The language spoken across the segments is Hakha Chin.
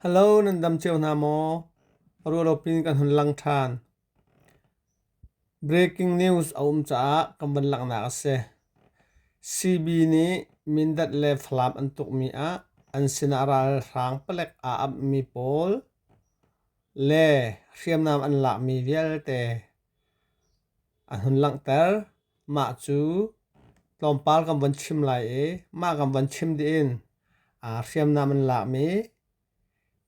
Hello nan dam cio hna maw? Rualopin kan hun lang ṭhan. Breaking news a um caah kan van langhnak a si. CB nih Mindat le Falam an tukmi ah an sinah ralhrang palek aa amhmi pawl le hriamnam an lakmi vialte A hun langhter, Mah cu tlawmpal kan von chim lai i mah kan von chim dih in aa hriamnam an lakmi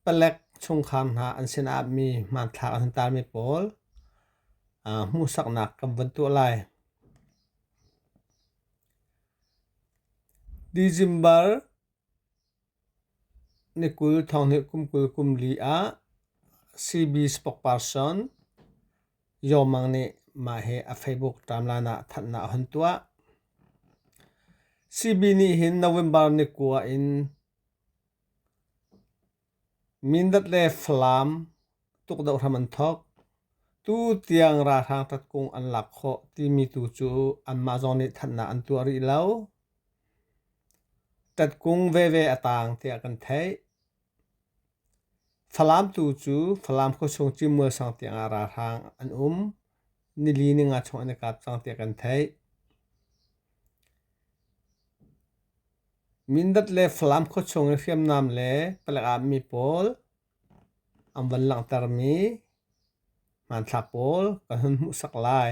palek chungkhar hna an sinah mi hmanthlak an hun tarmi pawl hmuhsaknak kan von tuah lai. December Ni kul Thawnghnilh kum kul kum li ah CB spokesperson Yaw Mang nih mah hi a Facebook timeline ah thanhnak a hun tuah. CB nih hin November ni kua in Mindat le Falam tukdoh hram an thawk. Tu tiang ralhrang tatkung an lak khawh timi tu cu anmah zong nih thanhnak an tuah rih lo. Ṭatkung veve a taang tiah kan theih. Falam tu cu Falam khuachung cimual sang tiangah ralhrang an um. Nili ninga chung an i kap cang tiah kan theih. Mindat le Falam khuachung i hriamnam le palek ah mi pawl an van langhtermi hmanthlak pawl kan hun hmuhsak lai.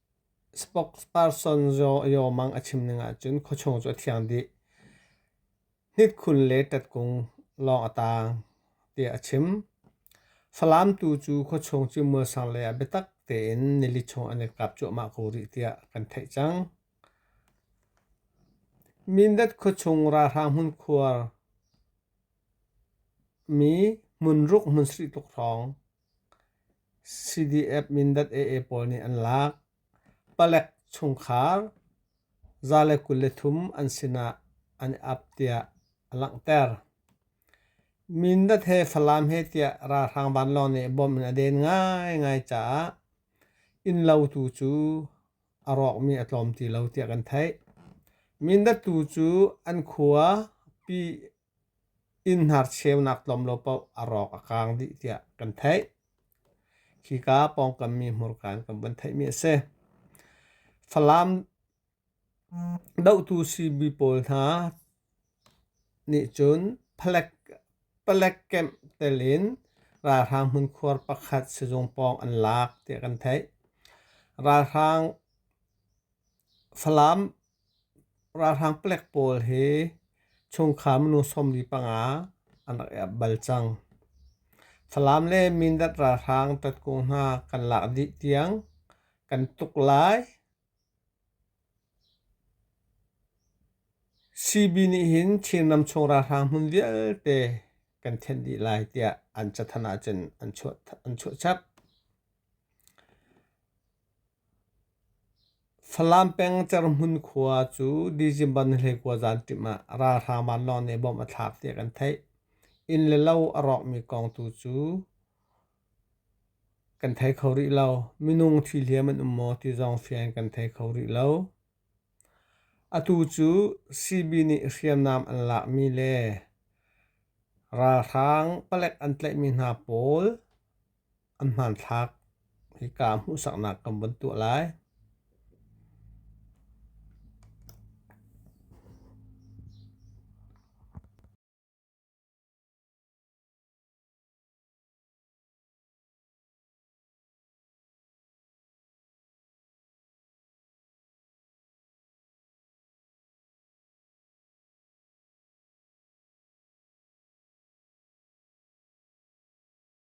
Spokesperson Yomang a chim ning ahcun khuachung cu a thiang dih. Hnitkhun le tatkung lawng a taang tiah a chim. Falam tu cu khuachung cu muasang le a biatak tein nili chung an i kap cuahmah ko rih tiah kan theih cang. Mindat khuachung ralhrang hmunkhuar mi hmunruk hmunsarih tuk hrawng CDF Mindat AA pawl nih an lak. Palek chungkhar za le kul le thum an sinah an i ap tiah a langhter. Mindat he Falam he tiah ralhrang vanlawng nih bom in a den ngaingai caah innlo tu cu a rawkmi a tlawm ti lo tiah kan theih. Mindat tu cu an khua Pi Innhnar cheunak tlawm lo paoh a rawk a kaang dih tiah kan theih. Khika pawngkammi hmurka in kan van theihmi a si. Falam dohtu sibi pawl hna nih cun palek, palek camp telin ralhrang hmunkhuar pakhat sizung pawng an lak tiah kan theih. Ralhrang Falam ralhrang palek pawl hi chungkhar minu sawmli panga an rak i ap bal cang. Falam le Mindat ralhrang tatkung hna kan lak dih tiang kan tuk lai. CB nih hin Chinram chung ralhrang hmun vialte kan thenh dih lai tiah an cathanh ahcun an chuah chap. Falam peng Cerhmun khua cu December ni hleikua zanṭim ah ralhrang vanlawng nih bom a thlak tiah kan theih. Inn le lo a rawkmi kong tu cu kan thei kho rih lo. Minung ṭhihliam an um maw ti zong fian kan thei kho rih lo. Atu cu CB nih hriamnam an lakmi le ralhrang palek an tlaihmi hna pawl An hmanthlak hika hmuhsaknak kan vun tuah lai.